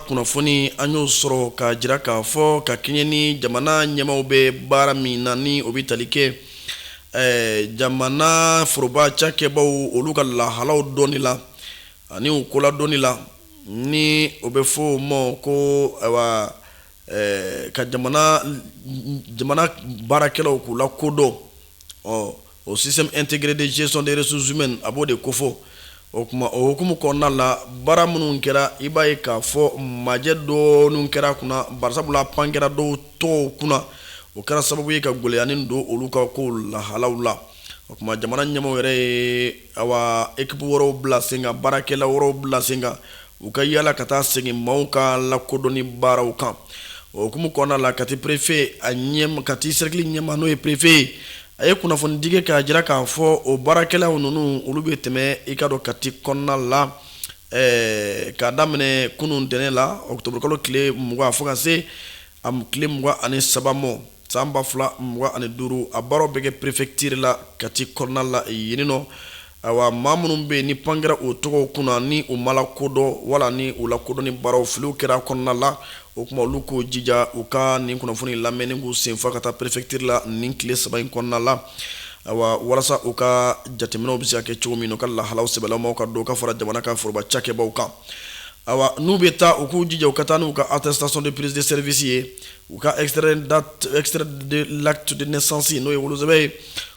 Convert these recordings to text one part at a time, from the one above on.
kunnafoni an y'o sɔrɔ ka jira k'a fɔ ka kɛɲɛ ni jamana ɲɛmaaw bɛ baara min na ni o bɛ tali kɛ eh, jamana foroba cakɛbaw olu ka lahalaw dɔnni la ani u ko ladɔnni la ni o bɛ fɔ o ma ko ayiwa eh, ka jamana jamana baarakɛlaw k'u lakodɔn ɔ O système intégré de gestion des ressources humaines a b'o de kofɔ o kuma o hukumu kɔnɔna la baara minnu kɛra i b'a ye k'a fɔ majɛ dɔɔni kɛra kunna barisabula pan kɛra dɔw tɔgɔw kunna o kɛra sababu ye ka gɛlɛyanin don olu ka ko lahalaw la o kuma jamana ɲɛmaaw yɛrɛ ye ayiwa équipe wɛrɛw bila sen kan baarakɛla wɛrɛw bila sen kan u ka yaala ka taa segin maaw ka lakodɔnni baaraw kan o hukumu kɔnɔna la kati perefe a ɲɛmaa kati sɛrikili ɲɛmaa n'o ye perefe ye a ye kunnafonidi kɛ k'a jira k'a fɔ o baarakɛlaw ninnu olu bɛ tɛmɛ i k'a dɔn kati kɔnɔna la ɛɛ k'a daminɛ kunun ntɛnɛn la ɔkutɔburukalo tile mugan fo ka se a tile mugan ani saba ma San ba fila mugan ani duuru a baaraw bɛ kɛ perefektiri la kati kɔnɔna la yen nɔ ayiwa maa minnu bɛ yen ni pan kɛra o tɔgɔ kunna ni u ma lakodɔn wala ni u lakodɔnni baaraw filiw kɛra kɔnɔna la o kuma olu k'u jija u ka nin kunnafoni lamɛn ni k'u senfa ka taa perefektiri la nin tile saba in kɔnɔna la ayiwa walasa u ka jateminɛw bɛ se ka kɛ cogo min u ka lahalaw sɛbɛnlamaw ka don ka fara jamana ka foroba cakɛbaw kan ayiwa n'u bɛ taa u k'u jija u ka taa n'u ka attestation de prise de service ye u ka latudsansi n'o ye wolouruze ye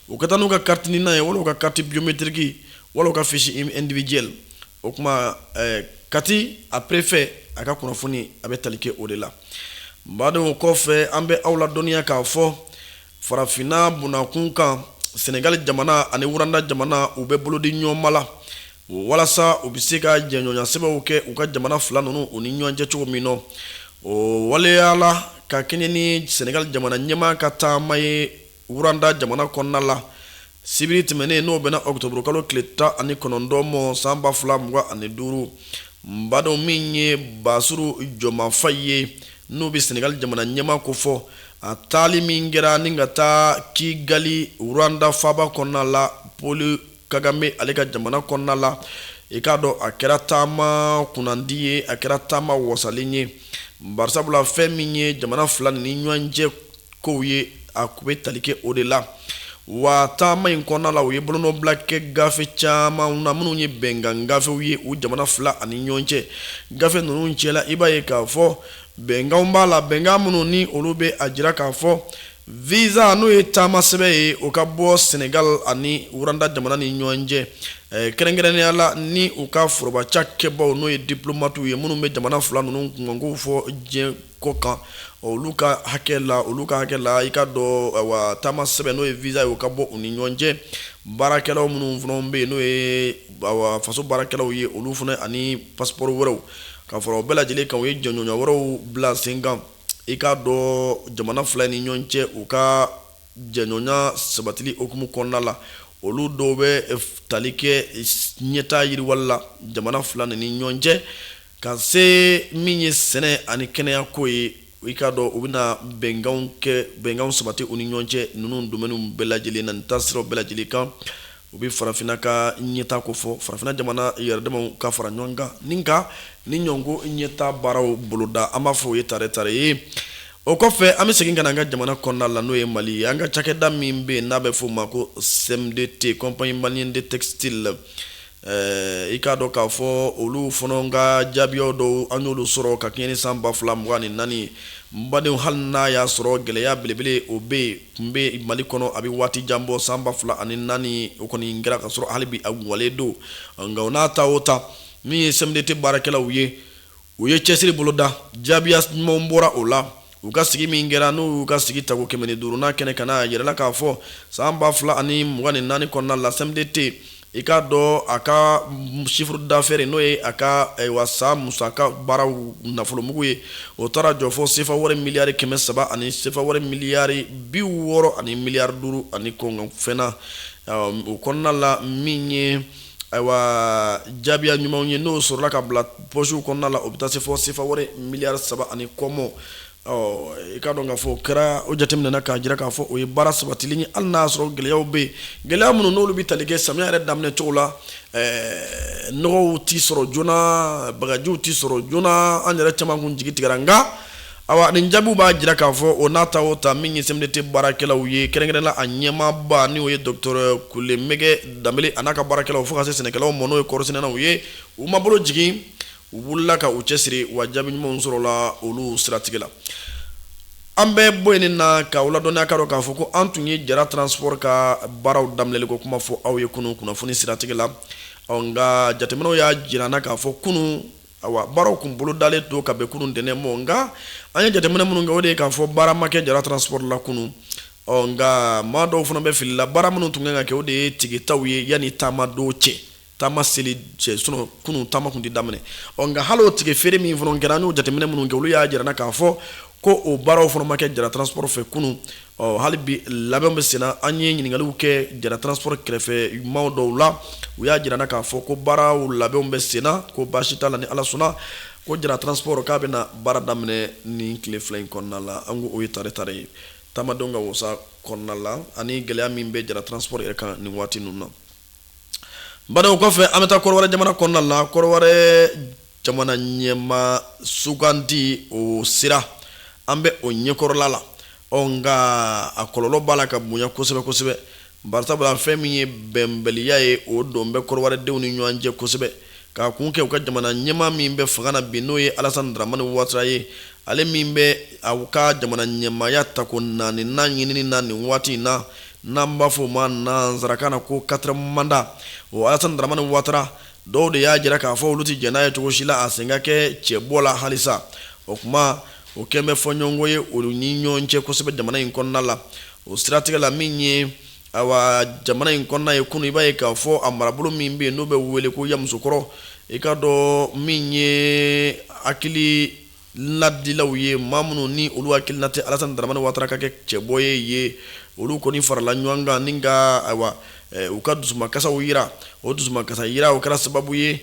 u ka taa n'u ka katiina n'a ye wolo ka kati biyometiriki wala ka fisibijɛ o tuma kati a perefɛ a ka kunnafoni a bɛ tali kɛ o de la n badɔ kɔfɛ an bɛ aw la dɔnniya k'a fɔ Farafinna bunnakun kan Senegali jamana ani Rwanda jamana u bɛ bolodiɲɔgɔnma la walasa u bɛ se ka jɛɲɔgɔnyasɛbɛnw kɛ u ka jamana fila ninnu u ni ɲɔgɔn cɛ cogo min na o waleyala ka kɛɲɛ ni Senegali jamana ɲɛmaa ka taama ye Rwanda jamana kɔnɔna la Sibiri tɛmɛnen n'o bɛnna ɔkutɔburukalo tile tan ani kɔnɔntɔn ma san ba fila mugan ani duuru badenw min ye Bassirou Diomaye Faye ye n'o bɛ Senegali jamana ɲɛmaa kofɔ a taali min kɛra ni ka taa Kigali Rwanda faba kɔnɔna la Paul Kagame ale ka jamana kɔnɔna la i k'a dɔn a kɛra taama kunnandi ye a kɛra taama wasalen ye barisabula fɛn min ye jamana fila ni ɲɔgɔn cɛ kow ye a kun bɛ tali kɛ o de la wa taama in kɔnɔna la u ye bolonɔbila kɛ gafe caman na minnu ye bɛnkan gafew ye u jamana fila ani ɲɔgɔn cɛ gafe ninnu cɛla i b'a ye k'a fɔ bɛnkan b'a la bɛnkan minnu ni olu bɛ a jira k'a fɔ Visa n'o ye taama sɛbɛn ye o ka bɔ Senegal ani Rwanda jamana ni ɲɔgɔn cɛ eh, kɛrɛnkɛrɛnnenya la ni u ka foroba cakɛbaaw n'o ye diplomatiw ye minnu bɛ jamana fila ninnu kunkankow fɔ diɲɛ kɔ kan olu ka hakɛ la olu ka hakɛ la i k'a dɔn wa taama sɛbɛn n'o ye visa ye o ka bɔ u ni ɲɔgɔn cɛ baarakɛlaw minnu fana bɛ yen n'o ye faso baarakɛlaw ye olu fana ani passeport wɛrɛw ka fara o bɛɛ lajɛlen kan u ye jɛɲɔgɔnya wɛrɛw bila sen kan i k'a dɔn jamana fila ni ɲɔgɔn cɛ u ka jɛɲɔgɔnya sabatili hukumu kɔnɔna la olu dɔw bɛ tali kɛ ɲɛtaa yiriwali la jamana fila nin ni ɲɔgɔn cɛ ka se min ye sɛnɛ ani kɛnɛya ko ye i k'a dɔn u bɛna bɛnkanw kɛ bɛnkanw sabati u ni ɲɔgɔn cɛ ninnu domaines bɛɛ lajɛlen na nin taasira bɛɛ lajɛlen kan U bɛ farafinna ka ɲɛtaa ko fɔ farafinna jamana yɛrɛdamaw ka fara ɲɔgɔn kan ni nka ni ɲɔgɔnko ɲɛtaa baaraw boloda an b'a fɔ u ye tare tare o kɔfɛ an bɛ segin ka na an ka jamana kɔnɔna la n'o ye mali ye an ka cakɛda min bɛ n'a bɛ f'o ma ko CMDT compagnie malienne de textile i k'a dɔn k'a fɔ olu fana ka jaabiya dɔw an y'olu sɔrɔ ka kɛɲɛ ni san ba fila mugan ni naani badenw hali n'a y'a sɔrɔ gɛlɛya belebele o bɛ yen tun bɛ mali kɔnɔ a bɛ waati jan bɔ san ba fila ani naani o kɔni kɛra ka sɔrɔ hali bi a walen don nka o n'a ta o ta min ye CMDT baarakɛlaw ye u ye cɛsiri boloda jaabiya ɲumanw bɔra o la u ka sigi min kɛra n'u y'u ka sigi tago kɛmɛ ni duurunan kɛnɛ kan a yirala k'a fɔ san ba fila ani mugan ni naani kɔnɔna la CMDT i k'a dɔn a ka chiffre d'affaires n'o ye a ka san musaka baaraw nafolomugu ye o taara jɔ fo sefa wari miliyari kɛmɛ saba ani sefa wari miliyari bi wɔɔrɔ ani miliyari duuru ani kɔngɔfɛnna o kɔnɔna la min ye ayiwa jaabiya ɲumanw ye n'o sɔrɔla ka bila pɔsiw kɔnɔna la o bɛ taa se fo sefa wari miliyari saba ani kɔmɔ i k'a dɔn k'a fɔ kɛra o jateminɛna k'a jira k'a fɔ o ye baara sabatili ye hali n'a sɔrɔ gɛlɛyaw bɛ yen gɛlɛya minnu n'olu bɛ tali kɛ samiya yɛrɛ daminɛ cogo la nɔgɔw tɛ sɔrɔ joona bagajiw tɛ sɔrɔ joona an yɛrɛ caman kun jigi tigɛra nka a nin jaabiw b'a jira k'a fɔ o n'a ta o ta min ye CMDT baarakɛlaw ye kɛrɛnkɛrɛnnenya la a ɲɛmaaba n'o ye docteur Kulumɛgɛ Danbele n'a ka baarakɛlaw fo ka se sɛnɛkɛlaw ma n'o ye kɔɔrisɛnɛnaw ye u ma bolo jigin u wulila ka u cɛ siri wa jaabi ɲumanw sɔrɔla olu siratigɛ la an bɛ bɔ yen na ka ladɔnniya ka k'a fɔ ko an tun ye jara transport ka baaraw daminɛli ko kuma fɔ aw ye kunun kunnafoni siratigɛ la nka jateminɛw y'a jira an na k'a fɔ kunun awa baaraw tun bolodalen don ka bɛn kunun ntɛnɛn ma nka an ye jateminɛ minnu kɛ o de ye k'a fɔ baara ma kɛ jara transport la kunun ɔ nka maa dɔw fana bɛ fili la baara minnu tun kan ka kɛ o de ye tikɛtaw ye yanni taama don cɛ taama seli cɛ sinɔn kunun taama kun tɛ daminɛ ɔ nka hali o tikɛ feere min fana kɛra an y'o jateminɛ minnu kɛ olu y'a jira na k'a fɔ ko o baaraw fana ma kɛ jara transport fɛ kunun ɔ hali bi labɛnw bɛ senna an ye ɲininkaliw kɛ jara transport kɛrɛfɛ maaw dɔw la u y'a jira na k'a fɔ ko baaraw labɛnw bɛ senna ko baasi t'a la ni ala sɔnna ko jara transport k'a bɛna baara daminɛ nin tile fila in kɔnɔna la an ko o ye tare tare ye taamadenw ka wasa kɔnɔna la ani gɛlɛya min bɛ jara transport yɛrɛ kan nin waati ninnu na bani o kɔfɛ an bɛ taa kɔrɔwari jamana kɔnɔna la kɔrɔwari jamana ɲɛmaa sugandi o sira an bɛ o ɲɛkɔrɔla la ɔ nka a kɔlɔlɔ b'a la ka bonya kosɛbɛ kosɛbɛ barisabula fɛn min ye bɛnbaliya ye o don bɛ kɔrɔwaridenw ni ɲɔgɔn cɛ kosɛbɛ k'a kun kɛ u ka jamana ɲɛmaa min bɛ fanga na bi n'o ye alasani daramani watara ye ale min bɛ a ka jamana ɲɛmaaya ta ko naaninan ɲinini na nin waati in na n'an b'a fɔ o ma nansarakan na ko quatre mandat o alasani daramani watara dɔw de y'a jira k'a fɔ olu tɛ jɛn n'a ye cogo si la a sen ka kɛ cɛbɔ la halisa o kuma o kɛlen bɛ fɔɲɔgɔnkɔ ye olu ni ɲɔgɔn cɛ kosɛbɛ jamana in kɔnɔna la o siratigɛ la min ye awa jamana in kɔnɔna ye kunun i b'a ye k'a fɔ a marabolo min bɛ yen n'o bɛ wele ko yamusokɔrɔ i k'a dɔn min ye hakili ladilaw ye maa minnu ni olu hakilina tɛ Alasani Daramani Watara ka kɛ cɛbɔ ye yen, olu kɔni farala ɲɔgɔn kan ni ka ayiwa eh, u ka dusumankasaw jira. O dusumankasa jira o kɛra sababu ye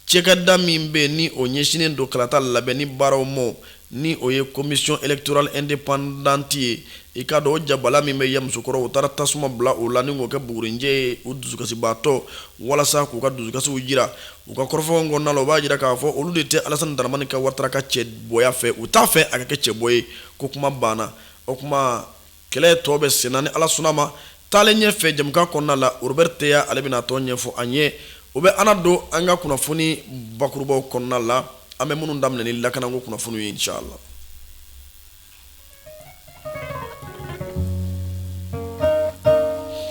cakɛda min bɛ yen ni o ɲɛsinnen don kalata labɛnni baaraw ma, ni o ye Commission électorale indépendante ye, i k'a dɔn o jabala min bɛ Yamusokɔrɔ, u taara tasuma bila o la ni k'o kɛ bugurinjɛ ye u dusukasibaatɔ walasa k'u ka dusukasiw jira. U ka kɔrɔfɔw kɔnɔna na u b'a jira k'a fɔ olu de tɛ Alasani Daramani ka Watara ka cɛbɔya fɛ, u t'a fɛ a ka kɛ cɛbɔ ye, ko kuma banna. O kuma kɛlɛ tɔ bɛ senna ni Ala sɔnn'a ma. Taalen ɲɛ fɛ jɛmukan kɔnɔna la, Robɛri Teya ale bɛna a tɔ ɲɛfɔ an ye. O bɛ an ladon an ka kunnafoni bakurubaw kɔnɔna la, an bɛ minnu daminɛ ni lakanako kunnafoniw ye inchala.